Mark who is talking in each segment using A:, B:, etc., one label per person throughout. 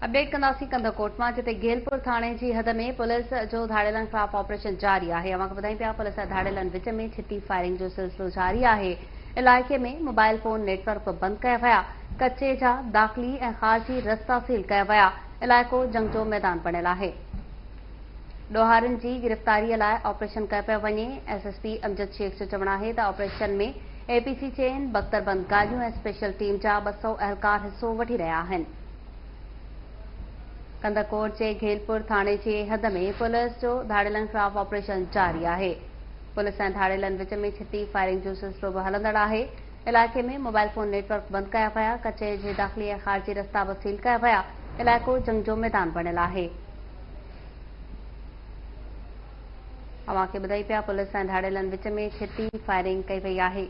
A: Update ڪنداسين ڪنڌڪوٽ مان جتي گيلپور ٿاڻي جي حد ۾ پوليس جو ڌاڙيلن خلاف آپريشن جاري آهي اوهان کي ٻڌايون پيا پوليس ۽ ڌاڙيلن وچ ۾ ڇتي فائرنگ جو سلسلو جاري آهي علائقي ۾ موبائل فون نيٽ ورڪ به بند ڪيا ويا ڪچي جا داخلي ۽ خارجي رستا سيل ڪيا ويا علائقو جنگ جو ميدان بڻيل آهي ڏوهارين جي گرفتاري لاء آپريشن ڪيو پيو وڃي، S S P Amjad Shaikh جو چوڻ آهي ته آپريشن ۾ اي پي سي چئن بڪتربند گاڏيون ۽ اسپيشل ٽيم جا ٻه سؤ اهلڪار حصو وٺي رهيا آهن. ڪنڌڪوٽ جي گهيلپور ٿاڻي جي حد ۾ پوليس جو ڌاڙيلن خلاف آپريشن جاري آهي، پوليس ۽ ڌاڙيلن وچ ۾ ڇتي فائرنگ جو سلسلو به هلندڙ آهي، علائقي ۾ موبائل فون نيٽ ورڪ بند ڪيا ويا، ڪچهري جي داخلي ۽ خارجي رستا به سيل ڪيا ويا، علائقو جنگ جو ميدان بڻيل آهي. اوهان کي ٻڌائي پيا پوليس ۽ ڌاڙيلن وچ ۾ ڇتي فائرنگ ڪئي وئي آهي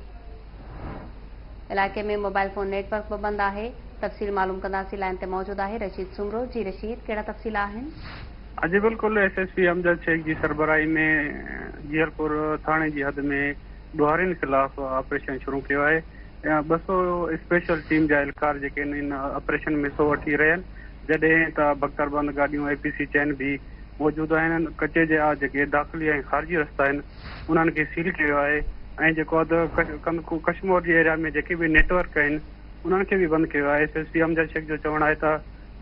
A: علائقي ۾ موبائل فون نيٽ ورڪ به بند آهي تفصيل معلوم ڪنداسين لائين تي موجود آهي رشيد سومرو جي رشيد ڪهڙا تفصيل آهن. جي بلڪل
B: S S P Amjad Shaikh جي سربراهي ۾ جيئرپور ٿاڻي جي حد ۾ ڏوهارين خلاف آپريشن شروع ڪيو آهي ٻه سو اسپيشل ٽيم جا اهلڪار جيڪي ان آپريشن ۾ حصو وٺي رهيا آهن جڏهن ته بڪتربند گاڏيون، اي پي سي چين، به موجود آهن. ڪچي جي آ جيڪي داخلي ۽ خارجي رستا آهن انهن کي سيل ڪيو ويو آهي ۽ جيڪو اڌ ڪشمور جي ايريا ۾ جيڪي به نيٽ ورڪ آهن انهن کي به بند ڪيو آهي. S S P Amjad Shaikh جو چوڻ آهي ته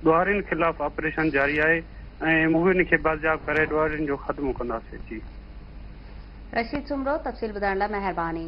B: ڏوهارين خلاف آپريشن جاري آهي ۽ موهين کي بازياب ڪري ڏوهارين جو خاتمو
A: ڪنداسين.
B: جي.
A: رشيد
B: سومرو
A: تفصيل
B: ٻڌائڻ لاء مهرباني.